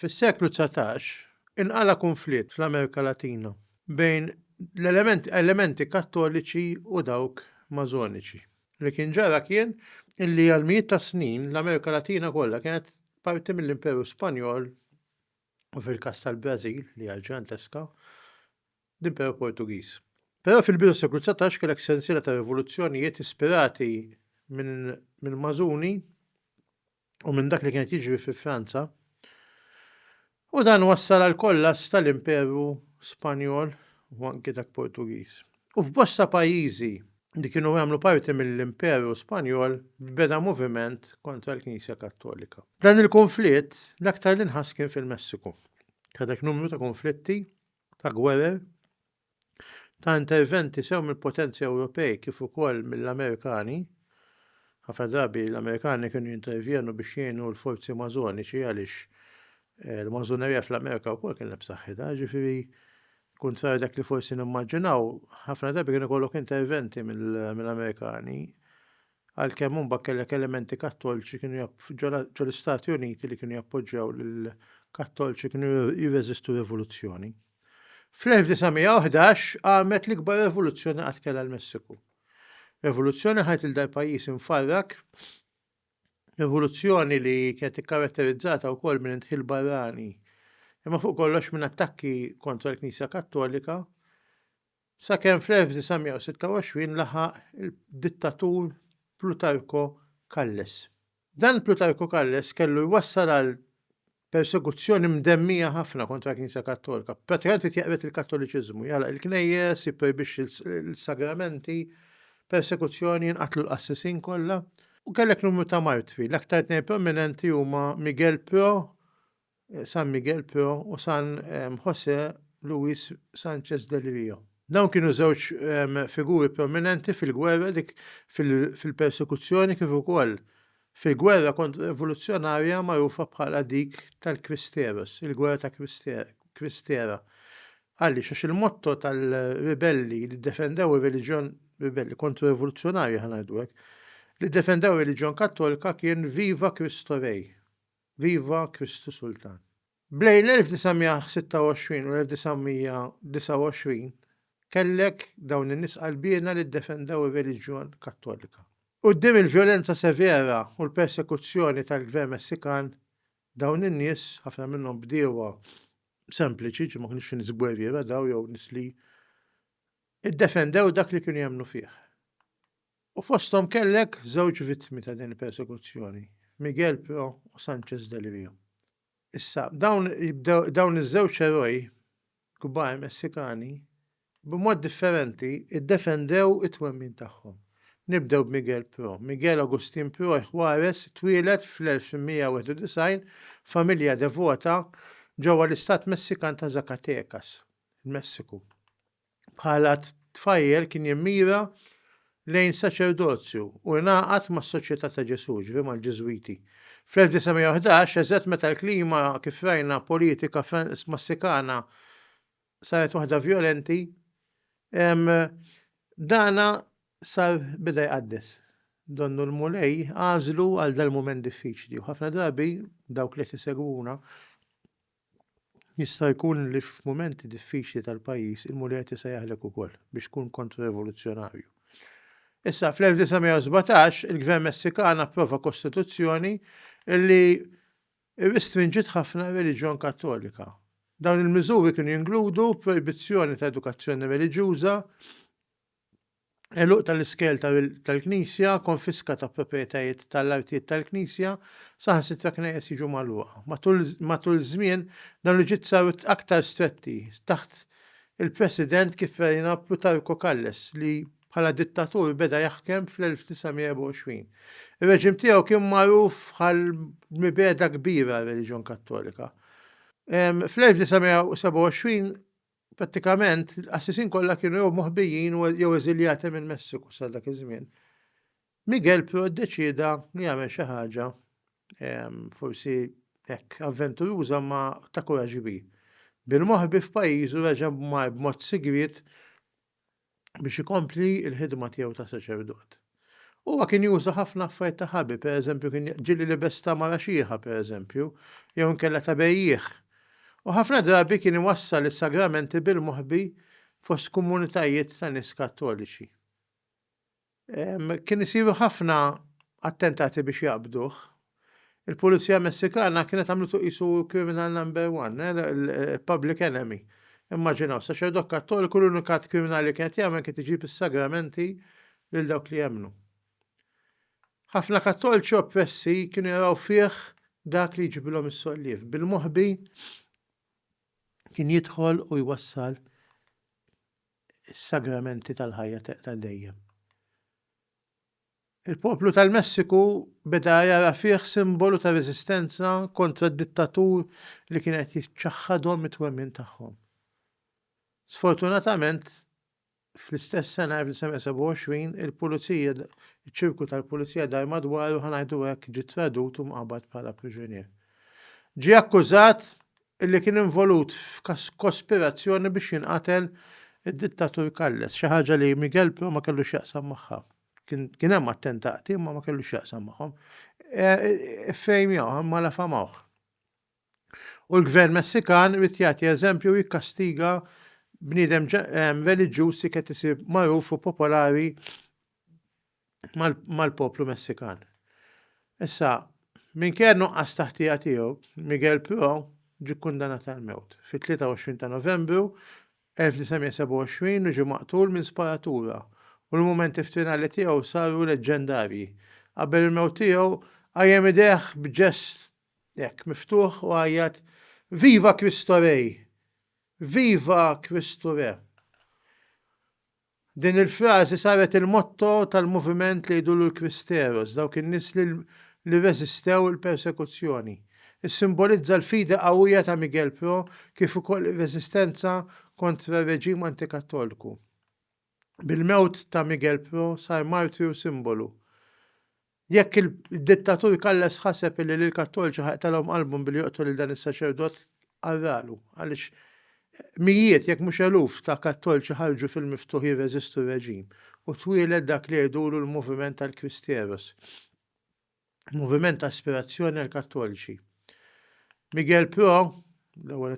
Fis-seklu dsatax, inqala' kunflitt fl-Amerika Latina bejn elementi Kattoliċi u dawk Mażoniċi. Li kien ġara kien illi għal mijiet ta' snin l-Amerika Latina kollha kienet parti mill-Imperu Spanjol u fil-każ tal-Brażil li hija ġganteska l-Imperu Portugiż. Però fil-bidu tas-seklu 19 kellek sensiela ta' rivoluzzjonijiet ispirati minn mażuni u minn dak li kien qed jiġri fi Franza, u dan wassal għal kollass tal-Imperu Spanjol u anki dak Portugiż. U f'bosta pajjiżi li kienu jagħmlu parti mill-Imperu Spanjol beda moviment kontra l-Knisja Kattolika. Dan il-kunflitt l-aktar l-inħass kien fil-Messiku. Kellek numru ta' kunflitti, ta' gwerer, ta' interventi sew mill-potenzi Ewropej kif ukoll mill-Amerikani, ħafna drabi l-Amerikani kienu jintervjenu biex jgħinu l-forzi mażoniċi għaliex eh, l-mażonerija fl-Amerika wkoll kienet b'saħħitha, ġifieri kuntrarju dak li forsi nimmaġinaw, ħafna drabi kienu kollok interventi mill-Amerikani għalkemm hu mbagħad kellek elementi Kattolċi kienu ġo l-Istati Uniti li kienu jappoġġjaw lil Kattolċi kienu jirreżistu rivoluzzjoni. Fl-1911 qamet l-ikbar revoluzzjoni qatt kellha l-Messiku. Revoluzzjoni ħajt il dal pajjiż infarrak, revoluzzjoni li kienet ikkaratterizzata wkoll minn intħil barrani, imma fuq kollox minn attakki kontra l-Knisja Kattolika Sakemm fl-1926 laħaq id-dittatur Plutarko Kalles. Dan Plutarko Kalles kellu jwassal għal persekuzzjoni mdemmija ħafna kontra l-Knisja Kattolika. Prattikament irid jeqred il-Kattoliċiżmu, jagħlaq il-knejjes, jipprojbixxi l-sagramenti, persekuzzjoni, jinqatlu l-qassisin kollha. U kellek numru ta' martri, l-aktar tnejn prominenti huma Miguel Pro San Miguel Pio u San José Luis Sánchez del Río. Dawn kienu żewġ figuri prominenti fil-gwerra dik fil-persekuzzjoni kif ukoll fil-gwerra kontra-rivoluzzjonarja magħrufa bħala dik tal-Cristeros, il-Gwerra ta' Cristera. Għaliex? Għax il-motto tal-ribelli li ddefendew ir-reliġjon, ribelli kontra-rivoluzzjonarji ħa ngħidu hekk, li ddefendew ir-reliġjon Kattolika kien Viva Cristo Rey! Viva Kristu Sultan! Bejn l-1926 u l-1929 kellek dawn in-nies qalbiena li ddefendew ir-reliġjon Kattolika. Quddiem il-vjolenza severa u l-persekuzzjoni tal-Gvern Messikan, dawn in-nies, ħafna minnhom bdiewa sempliċi, ġifieri ma kinux nies gwerriera dawn jew nies li, iddefendew dak li kienu jemmnu fih. U fosthom kellek żewġ vittmi ta' din il-persekuzzjoni, Miguel Pro u Sanchez del Rio. Issa, dawn jibdew dawn iż-żewġ eroj kbar Messikani b'mod differenti ddefendew it-twemmin tagħhom. Nibdew b'Miguel Pro. Miguel Agustin Pro y Juarez twieled fl-1891 f'familja devota ġewwa l-istat Messikan ta' Zacatecas, il-Messiku. Bħala tfajjel kien jimmira lejn saċerdozju u ingħaqad mas-Soċjetà ta' Ġesù, ġifieri mal-Ġiżwiti. Fl-1911, eżatt meta l-klima, kif rajna, politika Massikana saret waħda vjolenti, dana sar beda jqaddes. Donnu l-Mulej għażlu għal dal-mument diffiċli u ħafna drabi dawk li qed isegwuna, Jista' jkun li f'mumenti diffiċli tal-pajjiż il-Mulet jista' jaħlek ukoll biex tkun kontro-revoluzzjonarju. Issa, fl-1917, il-Gvern Messikan approva kostituzzjoni li rristrinġiet ħafna r-reliġjon Kattolika. Dawn il-miżuri kienu jinkludu projbizzjoni ta' edukazzjoni reliġjuża, Għeluq tal-iskel tal-Knisja, konfiska ta' proprjetajiet tal-artijiet tal-Knisja, saħansitra knejjes jiġu magħluqa. Matul iż-żmien, dawn il-ġid saru aktar stretti taħt il-President Kypherina Plutarco Kalles li, bħala dittatur, beda jaħkem fl-1924. Ir-reġim tiegħu kien magħruf bħal mibegħda kbira għar-reliġjon Kattolika. Fl-1927 Prattikament, l-qassisin kollha kienu jew moħbijin jew eżiljati mill-Messiku sa dak iż-żmien. Miguel però ddeċieda li jagħmel xi ħaġa ehm, forsi hekk avventuruża ma ta' kuraġġ kbir. Bil-moħbi f'pajjiżu reġa' b'mod sigriet biex ikompli l-ħidma tiegħu ta' saċerdot. Huwa kien juża ħafna affarijiet ta' ħabi, pereżempju kien ġili libes ta' mara xieħa, pereżempju, jew inkella ta' bejjiegħ. U ħafna drabi kien iwassal is-sagramenti bil-moħbi fost komunitajiet ta' nies Kattoliċi. Kien isiru ħafna attentati biex jaqbduh. Il-Pulizija Messikana kienet għamlitu qisu kriminal number one, eh, public enemy. Immaġinaw, saċerdot kattoliku l-unika kriminali li kienet jagħmel kienet iġib is-sagramenti lil dawk li jemmnu. Ħafna kattolċi oppressi kienu jaraw fih dak li jġibilhom is-solliev. Bil-moħbi kien jidħol u jwassal is-sagramenti tal-ħajja ta' dejjem. Il-poplu tal-Messiku beda jara fih simbolu ta' reżistenza kontra d-dittatur li kien qed jiċċaħħadhom it-twemmin tagħhom. Sfortunatament, fl-istess sena 1927 il-pulizija iċ-ċirku tal-pulizija dar madwaru ħa ngħidu hekk ġie tradut u mqabad bħala priġunier. Ġie akkużat illi kien involut f'kospirazzjoni biex jinqatel id-dittatur Calles, xi ħaġa li Miguel però ma kellu x'jaqsam magħha. Kien hemm attentati imma ma kellu x'jaqsam magħhom. Iffejmjawh imma lafamawh. U l-Gvern Messikan irid jagħti eżempju u jikkastiga bniedem reliġjuż li qed isir magħruf u popolari mal-poplu Messikan. Issa, minkejja nuqqas taħtija tiegħu, Miguel Pro ġie kkundanat għal mewt fit-23 ta' Novembru 1927 u ġie maqtul minn sparatura u l-mumenti f'tinali tiegħu saru leġġendarji. Qabel il-mewt tiegħu, qajjem idejh b'ġest hekk miftuħ u għajjat Viva Cristo Rey! Viva Kristu Re! Din il-frażi saret il-motto tal-moviment li jgħidulu l-Kristeros, dawk in-nies li li rreżistew il-persekuzzjoni. Issimbolizza l-fidi qawwija ta' Miguel Pro kif ukoll ir-reżistenza kontra r-reġim antikattolku. Bil-mewt ta' Miguel Pro sar martirju simbolu Jekk il-dittatur Kalles ħaseb illi lill-Kattoliċi ħajqtalhom qalbhom billi joqtol lil dan is-saċerdot, arralu, għaliex mijiet jekk mhux eluf ta' Kattoliċi ħarġu fil-miftuħ jirreżistu r-reġim u twieled dak li jgħidulu l-moviment tal-Cristieros, moviment ta' aspirazzjoni għall-Kattoliċi. Miguel Pro, l-ewwel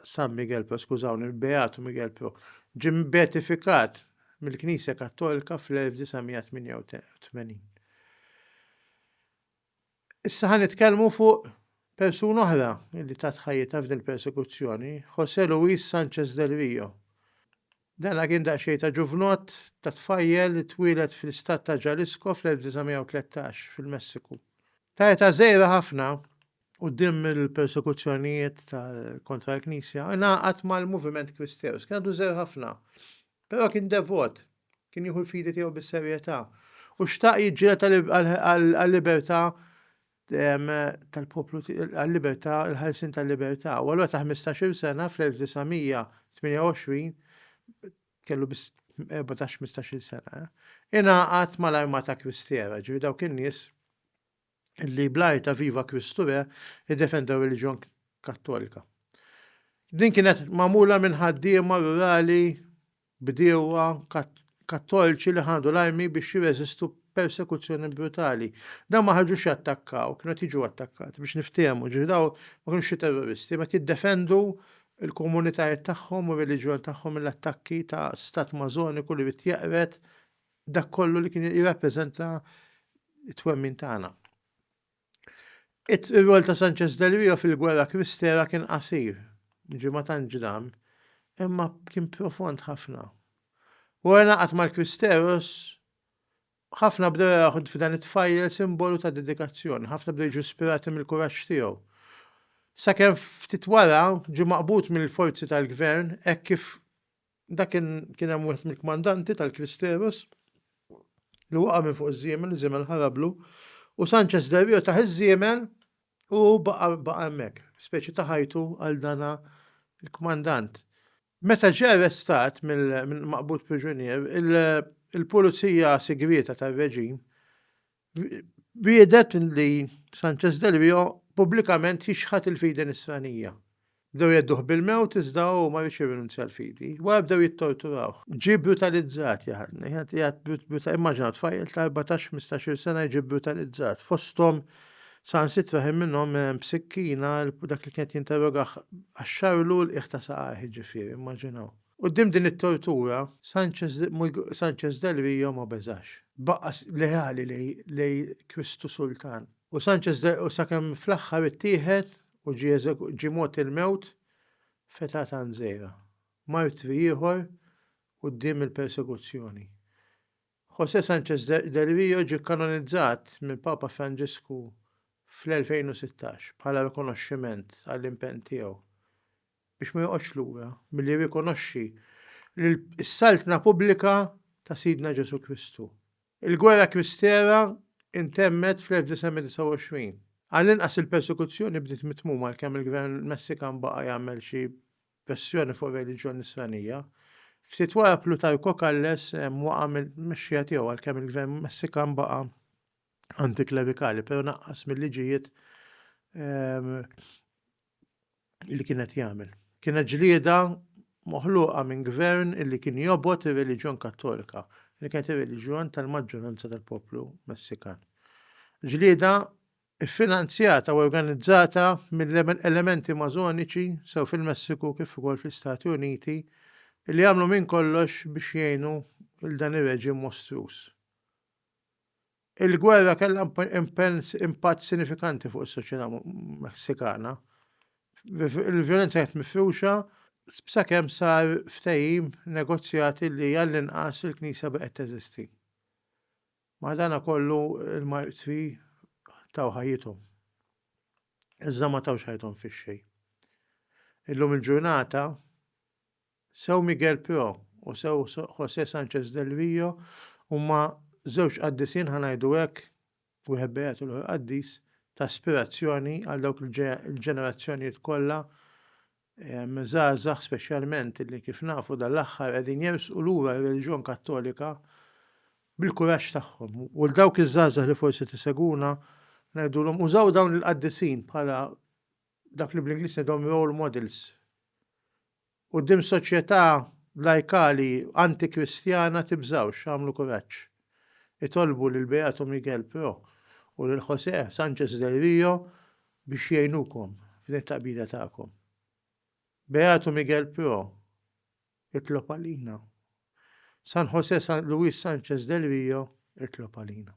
San Miguel Pro, skużawni, Beatu Miguel Pro, ġim beatifikat mill-Knisja Kattolika fl-1988. Issa ħan nitkellmu fuq persuna oħra li tat ħajjita f'din il-persekuzzjoni, Jose Luis Sanchez del Rio. Dana kien daqsxejn ta' ġuvnott, ta' tfajjel li twieled fl-istat ta' Jalisco fl-1913, fil-Messiku. Ta' età żgħira ħafna, quddiem il-persekuzzjonijiet kontra l-Knisja, ingħaqad mal-moviment Kristeus. Kien għadu żgħir ħafna, però kien devot, kien jieħu l-fidi tiegħu bis-serjetà, u xtaq jiġġieled għal-libertà tal-poplu għal-libertà, il-ħarsin tal-libertà. U allura ta' 15-il sena fl-1928 kellu biss 14-15-il sena. Eh? Ingħaqad mal-armata kristjera, ġifi dawk in-nies li blajta ta' viva Kristu re id-defendu reliġjon kattolika. Din kienet mamula minn ħaddiema rurali bdiewa Kattolċi li ħadu l-armi biex jirreżistu persekuzzjoni brutali. Dawn ma ħarġux jattakkaw, kienu qed jiġu attakkati biex niftehmu, ġifi daw ma kienux xi terroristi, ma jiddefendu l-komunitajiet tagħhom u r-reliġjon tagħhom mill-attakki ta' stat mażoniku li jrid jeqred dak kollu li kien jirrappreżenta t-twemmin tagħna. Ir-rwol ta' Sanchez del Rio fil-gwerra Kristera kien qasir, ġie ma tant ġdam, imma kien profond ħafna. Wara naqat mal-Kristeros, ħafna bdew jaraħu f'dan it-tfajjel simbolu ta' dedikazzjoni, ħafna bdew jiġu ispirati mill-kuraġġ tiegħu. Sakemm ftit wara ġie maqbud mill-forzi tal-gvern hekk kif Dak kien hemm wieħed mill-kmandanti tal-Kristeros li waqa' minn fuq iż-żiemel, iż-żiemel ħarablu, u Sanchez Del Rio taħ iż-żiemel u baqa' hemmhekk, speċi ta' ħajtu għal dana l-kmandant. Meta ġie arrestat mill-maqbud priġunier, il-pulizija sigrieta tar-reġim Wiegħdet li Sanchez Del Vio pubblikament jixħat il-fidi Nisranija. Bdew jgħedduh bil-mewt iżda hu ma rridx jirrinunzja l-fidi. Wara bdew jittorturawh. Ġie brutalizzat jaħdni. Immaġinaw tfajjel ta' 14-15-il sena jiġi brutalizzat. Fosthom saħansitra ħin minnhom b'sikkina dak li kien qed jinterrogah qaxxarlu l-qiegħ ta' saqajh jiġifieri, immaġinaw. Quddiem din it-tortura, Sanchez del Rio ma beżax. Baqa' leali lejn Kristu Sultan. U Sanchez del Rio sakemm fl-aħħar ittieħed u ġie mogħti l-mewt f'età tant żgħira. Martri ieħor quddiem il-persekuzzjoni. José Sanchez del Rio ġie kkanonizzat mill-Papa Franġisku fl-2016 bħala rikonoxximent għall-impenn tiegħu biex ma joqgħodx lura milli jirrikonoxxi l-Saltna pubblika ta' Sidna Ġesù Kristu. Il-Gwerra Kristera ntemmet fl-1929. Għall-inqas il-persekuzzjoni bdiet mit-tmum għalkemm il-Gvern Messikan baqa' jagħmel xi pressjoni fuq ir-reliġjon Nisranija. Ftit wara Plutarco Calles waqa' mill-mexxija tiegħu għalkemm il-Gvern Messikan baqa' antiklerikali, però naqqas mill-liġijiet li kien qed jagħmel. Kienet ġlieda moħluqa minn gvern illi kien jobgħod ir-reliġjon Kattolika, li kienet ir-reliġjon tal-maġġoranza tal-poplu Messikan. Ġlieda ffinanzjata u organizzata mill-elementi mażoniċi sew fil-Messiku kif ukoll fl-Istati Uniti li għamlu minn kollox biex jgħinu l dan ir-reġim mostruż. Il-gwerra kellha impatt sinifikanti fuq is-soċjetà Messikana. Il-vjolenza kienet mifruxa sakemm sar ftehim negozjati li għall-inqas il-knisja baqgħet teżisti. Madankollu l-martri taw ħajjithom, iżda ma tawx ħajjithom fix-xejn. Illum il-ġurnata, Sew Miguel Pio u sew José Sánchez del Río huma żewġ qaddisin, ħa ngħidu hekk, wieħed beat u l-ieħor qaddis, ta' ispirazzjoni għal dawk il-ġenerazzjonijiet kollha żgħażagħ speċjalment li kif nafu dan l-aħħar qegħdin jersqu lura r-reliġjon Kattolika bil-kuraġġ tagħhom. U 'l dawk iż-żgħażagħ li forsi tisegwuna ngħidulhom użaw dawn il-qaddisin bħala dak li bl-Ingliż ngħidhom role models. Quddiem soċjetà lajkali anti-Kristjana tibżgħux, agħmlu kuraġġ. Itolbu lil Beato Miguel Pro u lil José Sánchez del Río biex jgħinukom f'din it-taqbida tagħkom. Beato Miguel Pro, itlob għalina. San José Luis Sánchez del Río, itlob għalina.